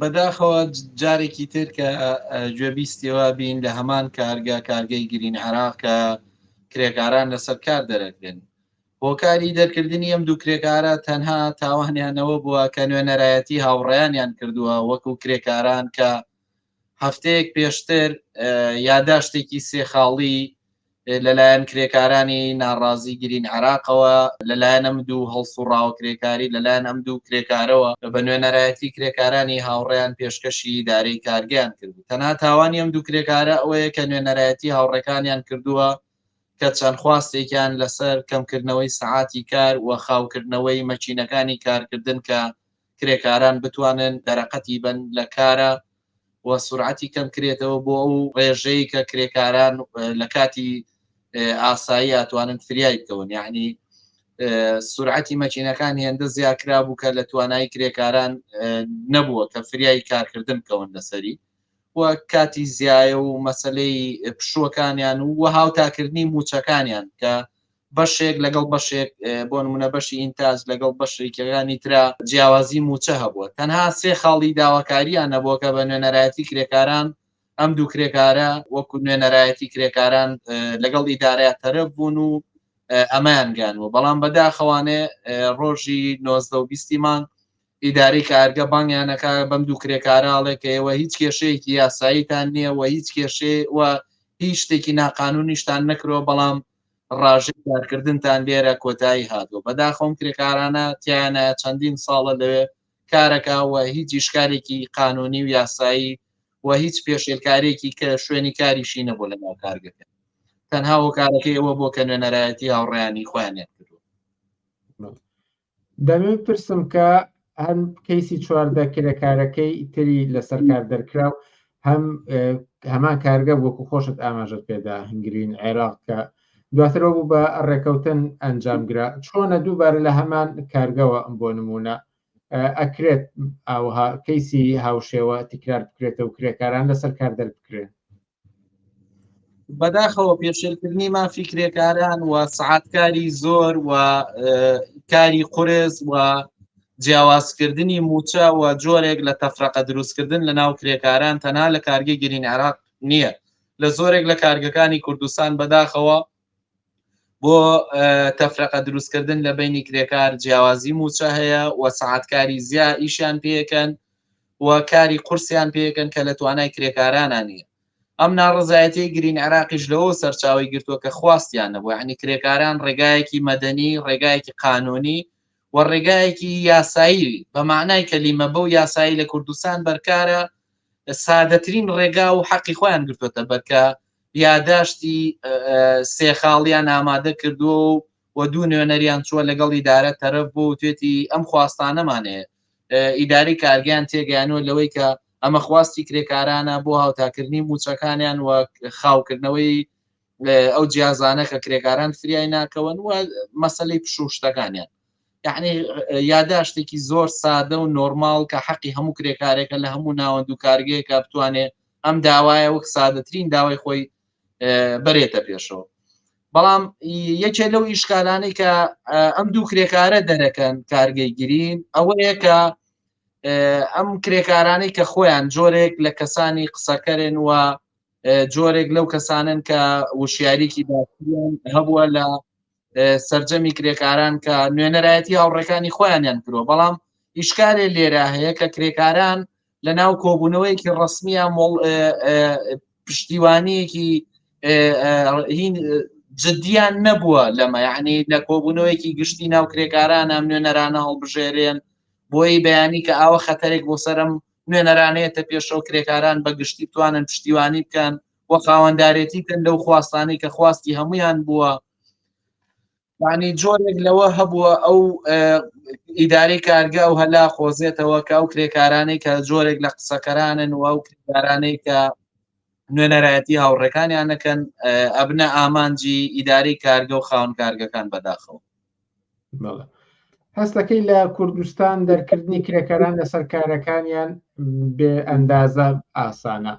بەداخەوە جارێکی تر کە گوێبیستیەوە بین لە هەمان کارگە کارگەی گرین عراق کە کرێکاران لەسەر کار دەرەکرێن هۆکاری دەرکردنی ئەم دوو کرێکارە تەنها تاوانیانەوە بووە کە نوێنەرایەتی هاوڕیانیان کردووە وەکو کرێکاران کە هەفتەیەک پێشتر یاداشتێکی سێخاڵی لەلایەن کرێکارانی ناڕازی گرین عراقەوە لەلایەن ئەم دوو هەڵسوڕاوە کرێکاری لەلایەن ئەم دوو کرێکارەوە بە نوێنەرایەتی کرێکارانی هاوڕێیان پێشکەشی ئیدارەی کارگەیان کرد تەنها تاوانی ئەم دوو کرێکارە ئەوەیە کە نوێنەرایەتی هاوڕێکانیان کردووە کە چەند خواستێکیان لەسەر کەمکردنەوەی سەعاتی کار و خاوکردنەوەی مەچینەکانی کارکردن کە کرێکاران بتوانن دەرەقەتی بن لە کارە و سورعەتی کەم کرێتەوە بۆ ئەو ڕێژەی کە کرێکاران لە کاتی ئاسایی ئەتوانن فریای بکەون یعنی سرعەتی مەچینەکان هێندە زیاکرا بوو کە لە توانای کرێکاران نەبووە کە فریای کارکردن کەون لەسەری و کاتی زیایە و مەسلەی پشوەکانیان و وە هاوتاکردنی موچەکانیان کە بەشێک لەگەڵ بەشێک بۆ نمونە بەشی ئینتاج لەگەڵ بەشێکەکانی ترا جیاوازی موچە هەبووە تەنها سێ خاڵی داواکاریان نەبووە کە بە نوێنەرایەتی کرێکاران ئەم دوو کرێکارە وەکو نوێنەرایەتی کرێکاران لەگەڵ ئیدارەیە تەرەف بوون و ئەمەیان گانوە بەڵام بەداخەوانێ ڕۆژی 1920 مانگ ئیداری کارگە بانگیانەکە بەم دوو کرێکاراڵێک کە ئێوە هیچ کێشەیەکی یاساییتان نییە و هیچ کێشێ و هیچ شتێکی ناقانونیشتان نەکرەوە بەڵام ڕاژەی کارکردنتان لێرە کۆتایی هاتووە بەداخەوەم کرێکارانە تیانە چەندین ساڵە لەوێ کارەکەوە هیچ ئیشکارێکی قانونی و یاسایی و هیچ پێشێلکارێکی کە شوێنی کاریشی نەبوو لە ناو کارگەکە تەنها هۆکارەکەی ئەوە بۆ کە نوێنەرایەتی هاوڕیانی خۆیانێت کردو دەمەوێت بپرسم کە هەم کەیسی چواردە کرێکارەکەی تری لەسەر کار دەرکراو هەم هەمان کارگە وەکو خۆشت ئاماژت پێدا هنگرین عێراق کە دواترەوە بوو بە ڕێکەوتن ئەنجامگرا چۆنە دووبارە لە هەمان کارگەوە ئەم بۆ نمونە ئەکرێت ئاوها کەیسی هاوشێوە تکرار بکرێتەوە کرێکاران لەسەر کار دەربکرێن بەداخەوە پێشێلکردنی مافی کرێکاران و سعاتکاری زۆر و کاری قرس و جیاوازکردنی موچە و جۆرێک لە تەفرەقە دروستکردن لە ناو کرێکاران تەنها لە کارگەی گرین عراق نییە لە زۆرێک لە کارگەکانی کوردستان بەداخەوە بۆ تەفرەقە دروستکردن لە بینی کرێکار جیاوازی موچە هەیە و سەعاتکاری زیا ئیشیان پێکەن و کاری قورسیان پێکەن کە لە توانای کرێکارانە نیە ئەم ناڕزایەتی گرین عراقیش لەوە سەرچاوی گرتووە کە خواستیان نەبوو عنی کرێکاران ڕێگایەکی مەدەنی ڕێگایەکی قانونی و ڕێگایەکی یاسایی بە معنای کەلیمە بەو یاسایی لە کوردستان بەرکارە سادەترین ڕێگا و حەقی خۆیان گرتوتە بەرکە یاداشتی سێ خاڵیان ئامادە کردووە و و دوو نوێنەریان چووە لەگەڵ ئیدارە تەرەف بوو و توێتی ئەم خواستانەمانەیە ئیداری کارگەیان تێگەیانوە لەوەی کە ئەمە خواستی کرێکارانە بۆ هاوتاکردنی موچەکانیان و خاوکردنەوەی ئەو جیازانە کە کرێکاران فریای ناکەون و مەسلەی پشوشتەکانیان یعنی یاداشتێکی زۆر سادە و نۆرمال کە حەقی هەموو کرێکارێکە لە هەموو ناوەند و کارگەیەکە بتوانێت ئەم داوایە وەک سادەترین داوای خۆی بەرێتە پێشەوە بەڵام یەکێ لەو ئیشکالانی کە ئەم دوو کرێکارە دەرەکەن کارگەی گرین ئەوەیە کە ئەم کرێکارانی کە خۆیان جۆرێک لە کەسانی قسەکەرێن و جۆرێک لەو کەسانن کە وشیاریکی باان هەبووە لە سرجەمی کرێکاران کە نوێنەرایەتی هاوڕێکانی خۆیانیان کرۆ بەڵام ئیشکارێ لێرا هەیە کە کرێکاران لە ناو کۆبوونەوەیەکی ڕسمیە مۆڵ پشتیوانیەکی جددیان نەبووە لەمە یعنی لە کۆبوونەوەیەکی گشتی ناو کرێکاران ئەم نوێنەرانە هەڵبژێرێن بۆی بەیانی کە ئاوە خەتەرێک بۆ سرم نوێنەرانەیەتە پێشەوە کرێکاران بە گشتی توانن پشتیوانی بکەن و خاوەندارێتی کەن لەو خواستانەی کە خواستی هەمویان بووە ینی جۆرێک لەوە هەبووە ئەو ئیدارەی کارگە ئەو هەلا خۆزێتەوە کە ئەو کرێکارانەی کە جۆرێک لە قسەکەرانن و ئەو کرێکارانەی کە نوێنەرایەتی هاوڕێکانیان نەکەن ئەبنە ئامانجی ئیداری کارگە و خاون کارگەکان بەداخەوە هەستەکەی لە کوردستان دەرکردنی کرێکاران لەسەر کارەکانیان بێ ئەندازە ئاسانە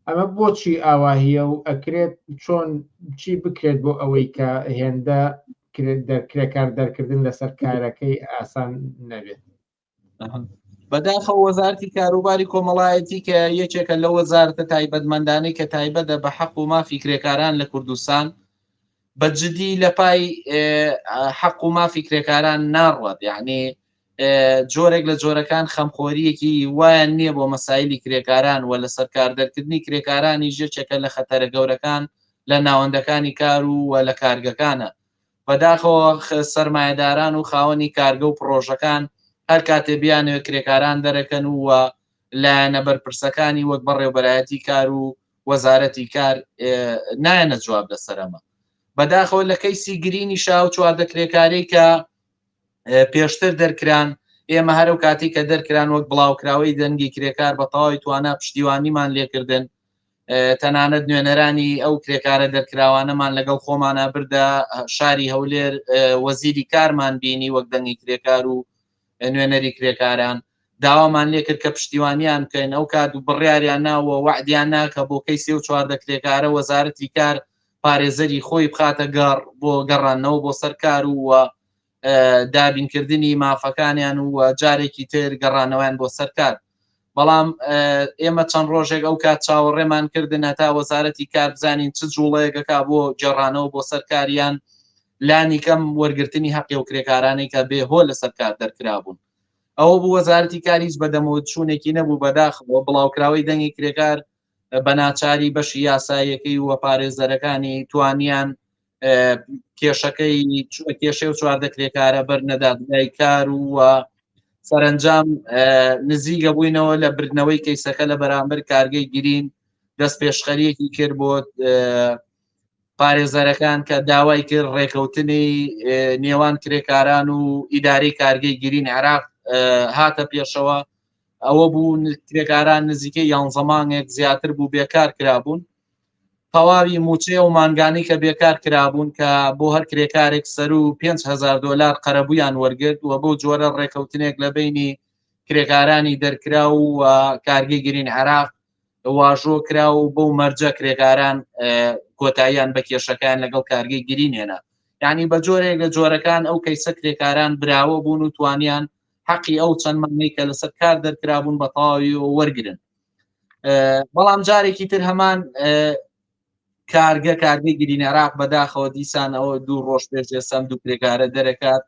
ئەمە بۆچی ئاواهیە و ئەکرێت چۆن چی بکرێت بۆ ئەوەی کە هێندە کرێکار دەرکردن لەسەر کارەکەی ئاسان نەبێت بەداخە وەزارتی کاروباری کۆمەڵایەتی کە یەکێکە لە وەزارتە تایبەتمەندانی کە تایبەتە بە حەق و مافی کرێکاران لە کوردستان بە جدی لە پای حەق و مافی کرێکاران ناڕوات یعنی جۆرێک لە جۆرەکان خەمخۆریەکی وایان نییە بۆ مەسایلی کرێکاران و لەسەر کاردەرکردنی کرێکارانیش یەکێکە لە خەتەرە گەورەکان لە ناوەندەکانی کار و و لە کارگەکانە بەداخەوە سەرمایەداران و خاوەنی کارگە و پڕۆژەکان هەر کاتێ بیانەوە کرێکاران دەرەکەن و وە لایەنە بەرپرسەکانی وەک بەڕێوبەرایەتی کار و وەزارەتی کار نایەنە جواب لەسەرەمە بەداخەوە لە کەیسی گرینی شاو چواردە کرێکاری کە پێشتر دەرکران ئێمە هەرو کاتی کە دەرکران وەک بڵاوکراوەی دەنگی کرێکار بە تەواوی توانا پشتیوانیمان لێکردن تەنانەت نوێنەرانی ئەو کرێکارە دەرکراوانەمان لەگەڵ خۆمانە بردە شاری هەولێر وەزیری کارمان بینی وەک دەنگی کرێکار و نوێنەری کرێکاران داوامان لێکرد کە پشتیوانیان بکەین ئەو کات و بڕیاریان ناوە وعدیان ناکە بۆ کەیسی و چواردە کرێکارە وەزارەتی کار پارێزەری خۆی بخاتە گەڕ بۆ گەڕانەوە بۆ سەر کار و و دابینکردنی مافەکانیان و جارێکی تر گەڕانەوەیان بۆ سەرکار بەڵام ئێمە چەند ڕۆژێک ئەو کات چاوەڕێمان کردن هەتا وەزارەتی کار بزانین چ جوڵەیەکەکە بۆ جێڕانەوە بۆ سەرکاریان لانی کەم وەرگرتنی هەقی و کرێکارانی کە بێ هۆ لە سەرکار دەرکرابوون ئەوە بوو وەزارەتی کاریش بەدەمەوە چوونێکی نەبوو بەداخەوە بڵاوکراوەی دەنگی کرێکار بەناچاری بەشی یاساییەکەی و پارێزەرەکانی توانیان کێشەکەی کێشێ و چواردە کرێکارە بەر نەدادگای کار و سەرنجام نزیگە بووینەوە لە بردنەوەی کەیسەکە لە بەرامبەر کارگەی گرین دەست پێشخەریەکی کرد بۆ پارێزەرەکان کە داوای کرد ڕێکەوتنی نێوان کرێکاران و ئیداری کارگەی گرین عراق هاتە پێشەوە ئەوە بوو کرێکاران نزیکە یان زەمانێک زیاتر بوو بێکار کرابوون تەواوی موچەیە و مانگانی کە بێکار کرابوون کە بۆ هەر کرێکارێک سەر و 5هزار دلار قەرەبوویان وەرگرت و بۆ جۆرە ڕێکەوتنێک لە بینی کرێکارانی دەرکرا و کارگەی گرین عراق واژۆ کرا و بەو مەرجە کرێکاران کۆتاییان بە کێشەکان لەگەڵ کارگەی گرینێنە یعنی بە جۆرێک لە جۆرەکان ئەو کەیسە کرێکاران براوە بوون و توانیان حەقی ئەو چەند مانەی کە لەسەر کار دەرکرابوون بە تەواوی وەرگن بەڵام جارێکی تر هەمان کارگە کارگەی گرین عراق بەداخەوە دیسان ئەوە دوو ڕۆژ پێش ئێسان دوو کرێکارە دەرەکات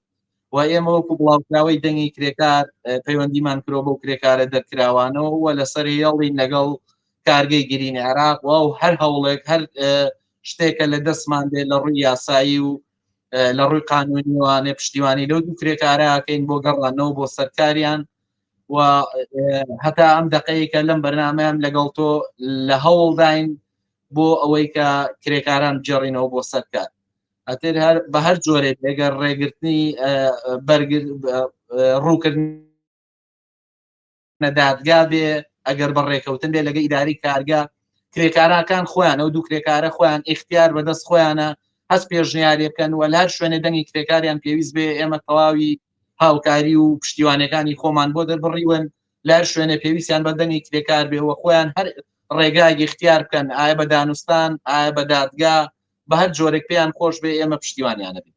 و ئێمە وەکو بڵاوکراوەی دەنگی کرێکار پەیوەندیمان کرۆ بەو کرێکارە دەرکراوانەوە وە لەسەر هێڵین لەگەڵ کارگەی گرین عراق و هەر هەوڵێک هەر شتێکە لە دەستمان دێ لە ڕووی یاسایی و لە ڕووی قانونیوانێ پشتیوانی لەو دوو کرێکارەکەین بۆ گەڕانەوە بۆ سەرکاریان و هەتا ئەم دقەیەکە لەم بەرنمەیان لەگەڵ تۆ لە هەوڵداین بۆ ئەوەی کە کرێکاران جێڕینەوە بۆ سەرکار ئەتر هەر بە هەر جۆرێک ئەگەر ڕێگرتنی بەرگر ڕووکردن نە دادگا بێ ئەگەر بە ڕێکەوتن بێ لەگە ئیداری کارگە کرێکاراکان خۆیان ئەو دوو کرێکارە خۆیان ئختیار بەدەست خۆیانە هەست پێشنیارەکەن و لار شوێنێ دەنگی کرێکاریان پێویست بێ ئێمە تەواوی هاوکاری و پشتیوانەکانی خۆمان بۆ دەربڕیون لار شوێنێ پێویستیان بە دەنگی کرێکار بێ و خۆیان هەر ڕێگای اختیار بکەن ئایا بە دانوستان ئایا بە دادگا بە هەر جۆرێک پێیان خۆش بێ ئێمە پشتیوانیانە بێت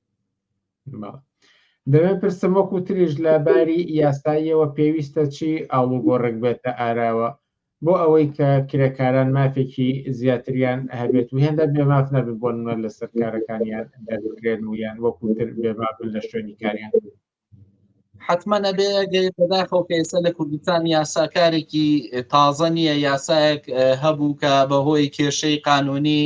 دەێ پرسم وەکو تریش لە باری یاساییەوە پێویستە چی ئاڵوگۆڕێک بێتە ئاراوە بۆ ئەوەی کە کرێکاران مافێکی زیاتریان هەبێت و هێندە بێماف نەبن بۆ نوە لە سەرکارەکانیان دەبکرێن و یان وەکوتر بێمابن لە شوێنی کاریان حتمما نەبێ گەی بەداخەوە کە ئێستا لە کوردستان یاساکارێکی تازە نییە یاسایەک هەبوو کە بەهۆی کێشەی قانونی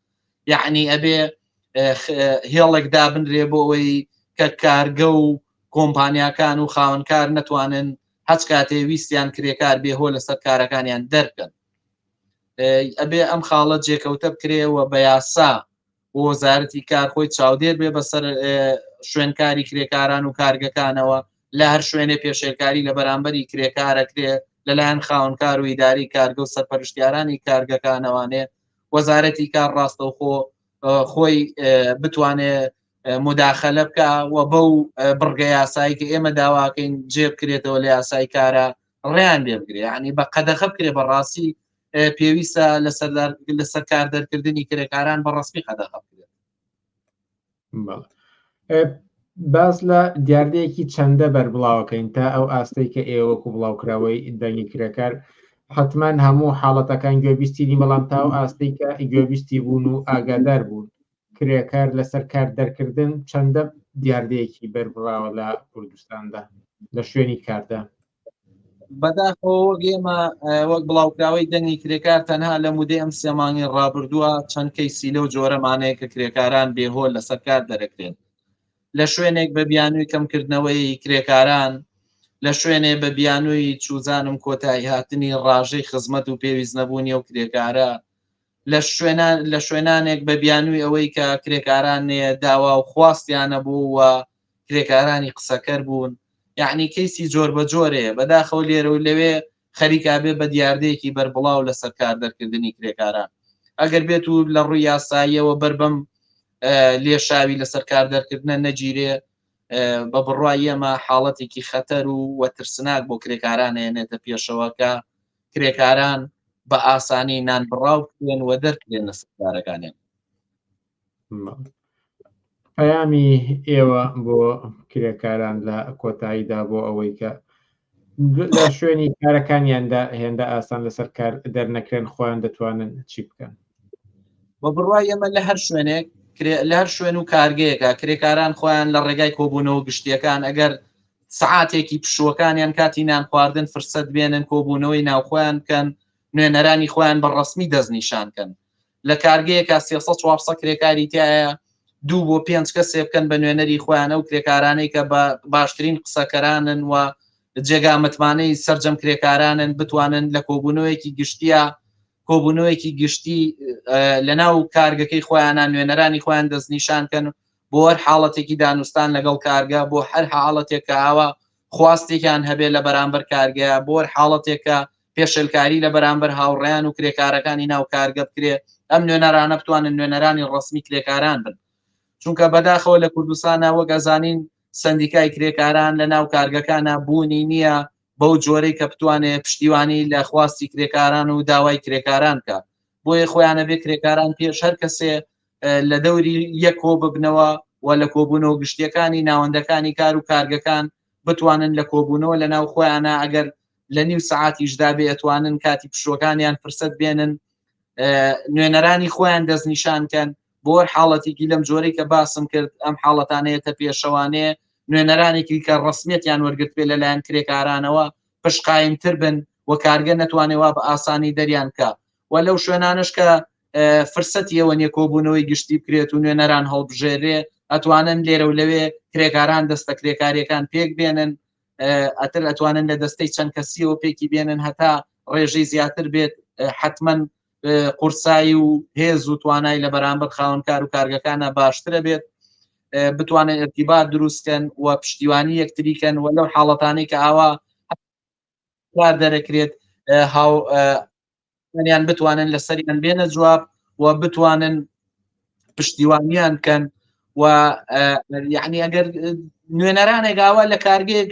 یعنی ئەبێ هێڵێک دابنرێ بۆ ئەوەی کە کارگە و کۆمپانیاکان و خاونکار نەتوانن هەچ کاتێ ویستیان کرێکار بێهۆ لەسەر کارەکانیان دەرکەن ئەبێ ئەم خاڵە جێکەوتە بکرێەوە بە یاسا وەزارەتی کار خۆی چاودێر بێ بەسەر شوێنکاری کرێکاران و کارگەکانەوە لە هەر شوێنێ پێشێلکاری لە بەرامبەری کرێکارەکرێ لەلایەن خاونکار و ئیداری کارگە و سەرپەرشتیارانی کارگەکانەوانێ وەزارەتی کار ڕاستەوخۆ خۆی بتوانێ مداخلە بکە و بەو بڕگە یاسایی کە ئێمە داواکەین جێ بکرێتەوە لە یاسای کارە ڕێیان لێ بگرێ ینی بە قەدەخە بکرێ بە ڕاستی پێویستە لە سەر کار دەرکردنی کرێکاران بە ڕسمی قەدەخە بکرێت باز لە دیاردەیەکی چەندە بەربڵاوەکەین تا ئەو ئاستەی کە ئێوەکو بڵاوکراوەی دەنگی کرێکار حتمما هەموو حاڵەتەکان گوێبیستیری بەڵام تا و ئاستی کە گوێبیستی بوون و ئاگادار بوون کرێکار لەسەر کار دەرکردن چەندە دیاردەیەکی بەربراوە لە کوردستاندا لە شوێنی کاردا بەداخەوە وەک ئێمە وەک بڵاوکراوەی دەنگی کرێکار تەنها لە مودەی ئەم سێمانگی ڕابردووە چەند کەیسی لەو جۆرەمانەیە کە کرێکاران بێهۆ لەسەر کار دەرەکرێن لە شوێنێک بە بیانووی کەمکردنەوەی کرێکاران لە شوێنێ بە بیانووی چوزانم کۆتایی هاتنی ڕژەی خزمەت و پێویست نەبوونی و کرێکارە لە شوێنانێک بە بیانووی ئەوەی کە کرێکاران نێە داوا و خواستیانە بوو و کرێکارانی قسەکەر بوون یەعنی کەیسی جۆر بە جۆرێ بەداخەوە لێرە و لەوێ خەریکا بێ بە دیاردەیەکی بەربڵاو لە سەر کار دەرکردنی کرێکاران ئەگەر بێت و لە ڕووی یاساییەوە بەر بەم لێشاوی لە سەر کار دەرکردنە نەگیرێ بە بڕای ئێمە حاڵەتێکی خەتەر و وە ترسناک بۆ کرێکارانێنێتە پێشەوەکە کرێکاران بە ئاسانی نان بڕاو بکرێن و دەرکرێن لە سکدارەکانیان. پەیامی ئێوە بۆ کرێکاران لە کۆتاییدا بۆ ئەوەی کە لە شوێنی کارەکانیاندا هێندە ئاسان لەسەر کار دەرنەکرێن خۆیان دەتوانن چی بکەن بە بڕای ئێمە لە هەر شوێنێک لە هەر شوێن و کارگەیەکە کرێکاران خۆیان لە ڕێگای کۆبوونەوە گشتیەکان ئەگەر سەعاتێکی پشووەکانیان کاتی نانخواردن فرسەت بێنن کۆبوونەوەی ناوخۆیان بکەن، نوێنەرانی خۆیان بە ڕەسمی دەستنیشان کەن. لە کارگەیەکا سێ سەد چوار سەد کرێکاری تیایە، دوو بۆ پێنج کەسێ بکەن بە نوێنەری خۆیان، ئەو کرێکارانەی کە باشترین قسەکەرانن و جێگا متمانەی سەرجەم کرێکارانن بتوانن لە کۆبوونەوەیەکی گشتیا کۆبوونەوەیەکی گشتی لەناو کارگەکەی خۆیانە نوێنەرانی خۆیان دەستنیشان کەن بۆ هەر حاڵەتێکی دانوستان لەگەڵ کارگە، بۆ هەر حاڵەتێک کە ئاوا خواستێکیان هەبێت لە بەرامبەر کارگەیە، بۆ هەر حاڵەتێک کە پێشێلکاری لە بەرامبەر هاوڕێیان و کرێکارەکانی ناو کارگە بکرێت، ئەم نوێنەرانە بتوانن نوێنەرانی ڕەسمی کرێکاران بن. چونکە بەداخەوە لە کوردستانا وەک ئەزانین سەندیکای کرێکاران لە ناو کارگەکانا بوونی نییە بەو جۆرەی کە بتوانێت پشتیوانی لە خواستی کرێکاران و داوای کرێکاران بکات. بۆیە خۆیان ئەبێت کرێکاران پێش هەر کەسێ لە دەوری یەک کۆ ببنەوە و لە کۆبوونەوە گشتیەکانی ناوەندەکانی کار و کارگەکان بتوانن لە کۆبوونەوە لە ناو خۆیانە ئەگەر لە نیو سعاتیشدا بێ ئەتوانن کاتی پشوەکانیان فرسەت بێنن نوێنەرانی خۆیان دەستنیشانکەن بۆ حاڵەتێکی لەم جۆرەی کە باسم کرد ئەم حاڵەتانەیەتە پێشەوانێ نوێنەرانێکی کە ڕسمیەتیان وەرگرت پێ لەلایەن کرێکارانەوە پشقایمتر بن و کارگە نەتوانێت وا بە ئاسانی دەریان بکە و لەو شوێنانش کە فرسەتی ئەوە نیە کۆبوونەوەی گشتی بکرێت و نوێنەران هەڵبژێرێ ئەتوانن لێرە و لەوێ کرێکاران دەستە کرێکاریەکان پێک بێنن ئەتر ئەتوانن لە دەستەی چەند کەسیەوە پێکی بێنن هەتا ڕێژەی زیاتر بێت حتمما قورسایی و هێز و توانای لە بەرامبەر خاونکار و کارگەکانە باشترە بێت بتوانن ئەتیبا دروستکەن و پشتیوانی یەکتریکەن و لەو حاڵەتانی کە ئاوا کار دەرەکرێت هاو منیان بتوانن لە سەریان بێنە جواب و بتوانن پشتیوانیان کەن و یعنی ئەگەر نوێنەرانێک گاوە لە کارگەیەک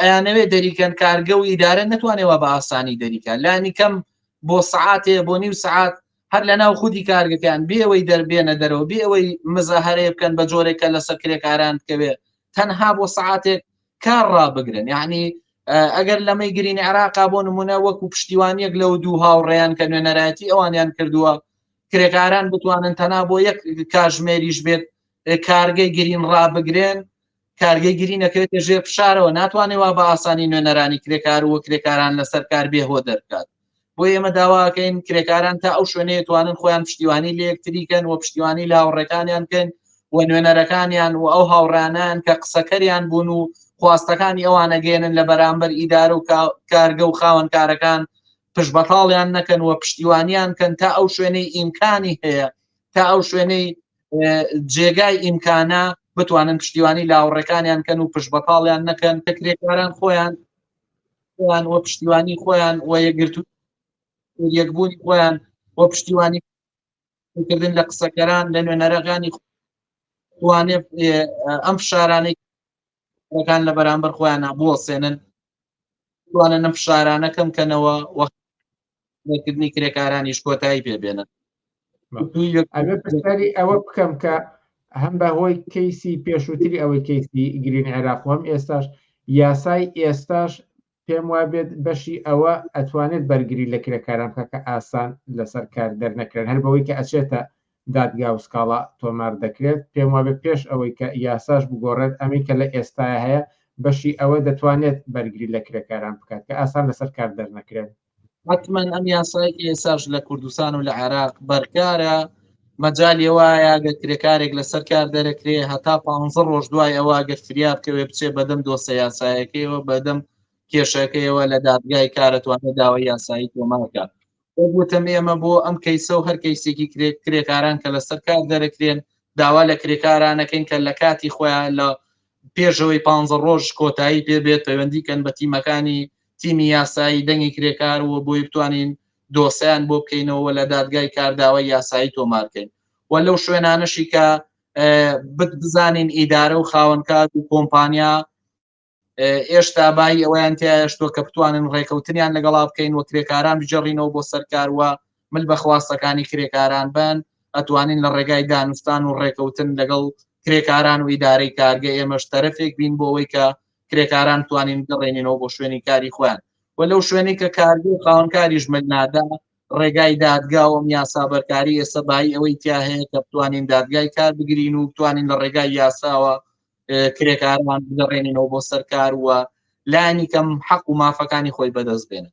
ئەیانەوێ دەریکەن کارگە و ئیدارە نتوانێەوە بە ئاسانی دەریکە لانی کەم بۆ سعاتێ بۆ نیو سعات هەر لە ناو خودی کارگەکان بێەوەی دەربێنە دەرەوە بێەوەی مزە هەرێ بکەن بە جۆرێکە لەسەر کرێکاران بکەوێت تەنها بۆ سعاتێک کار ڕابگرن یعنی ئەگەر لەمەی گرینی عراقا بۆ نمونە وەکو پشتیوانیەک لەو دوو هاوڕێیان کە نوێنەرایەتی ئەوانیان کردووە کرێکاران بتوانن تەنا بۆ یەک کاژمێریش بێت کارگەی گرین ڕابگرێن کارگەی گری نەکرێتە ژێر فشارەوە ناتوانێت وا بە ئاسانی نوێنەرانی کرێکار و کرێکاران لەسەر کار بێهۆ دەرکات بۆ ئێمە داواکەین کرێکاران تا ئەو شوێنەیە توانن خۆیان پشتیوانی لە یەکتریکەن و پشتیوانی لە هاوڕێکانیان بکەن و نوێنەرەکانیان و ئەو هاوڕانان کە قسەکەریان بوون و خواستەکانی ئەوانە گەێنن لە بەرامبەر ئیدار و کارگە و خاوەنکارەکان پشت بەتاڵیان نەکەن و پشتیوانیان کەن تا ئەو شوێنەی ئیمکانی هەیە تا ئەو شوێنەی جێگای ئیمکانە بتوانن پشتیوانی لاوڕەکانیان کەن و پشت بەتاڵیان نەکەن تەکرێکاران خۆیان خۆیان وە پشتیوانی خۆیان وە یەگرتو یەکبوونی خۆیان وە پشتیوانی کردن لە قسەکەران لە نوێنەرەکانی خوانێ ئەم فشارانەی ەکان لە بەرامبەر خۆیان بۆ سێنن توانە نەم فشارانەکەم کەنەوە وە کردنی کرێکارانیش کۆتایی پێبێنن ئەبێ پرسیاری ئەوە بکەم کە هەم بە هۆی کەیسی پێشووتری ئەوەی کەیسی گرین عێراق هەم ئێستاش یاسای ئێستاش پێم وا بێت بەشی ئەوە ئەتوانێت بەرگری لە کرێکاران بکە کە ئاسان لەسەر کار دەرنەکرێن هەر بەوەی کە ئەچێتە دادگا و سکاڵا تۆمار دەکرێت پێم وابێت پێش ئەوەی کە یاساش بگۆڕێت ئەمەی کە لە ئێستایە هەیە بەشی ئەوە دەتوانێت بەرگری لە کرێکاران بکات کە ئاسان لەسەر کار دەرنەکرێن حتممەن ئەم یاسای ئێساش لە کوردستان و لە عێراق بەرکارە مەجای وایە گە کرێکارێک لەسەر کار دەرەکرێ هەتا پ ڕۆژ دوای ئەوە گەر فریا بکەوێ بچێ بەدەم دۆسە یاسایەکەیەوە بەدەم کێشەکەیەوە لە دادگای کارەتوانێت داوای یاسایی تۆمارکە وتم ئێمە بۆ ئەم کەیسە و هەر کەیسێکی کرێک کرێکاران کە لەسەر کار دەرەکرێن داوا لە کرێکارانەکەین کە لە کاتی خۆیان لە پێشەوەی پ ڕۆژ کۆتایی پێ بێت پەیوەندی کەن بە تیمەکانی تیمی یاسایی دەنگی کرێکار و بۆی بتوانین دۆسیان بۆ بکەینەوە لە دادگای کارداوە یاسایی تۆمارکەین و لەو شوێنانەشی کە بزانین ئیدارە و خاوەنکار و کۆمپانیا ئێشتا بای ئەویان تیاشتۆ کە بتوانن ڕێکەوتنیان لەگەڵا بکەین و کرێکاران بجێڕینەوە بۆ سەرکاروە مل بە خواستەکانی کرێکاران بن ئەتوانین لە ڕێگای دانوستان و ڕێکەوتن لەگەڵ کرێکاران و ئیدارەی کارگە ئێمەش تەرەفێک بین بۆ ئەوەی کە کرێکاران توانین گەڕێنینەوە بۆ شوێنی کاری خوۆیان و لەو شوێنی کە کارگە خاونکاریش مل نادا ڕێگای دادگاوەم یاسا بەرکاری ئێستا بای ئەوەی تیا هەیە کە بتوانین دادگای کار بگرین و بتوانین لە ڕێگای یاساوە کرێکاران بگەڕێنینەوە بۆ سەرکار وە لانی کەم حەق و مافەکانی خۆی بەدەست بێنن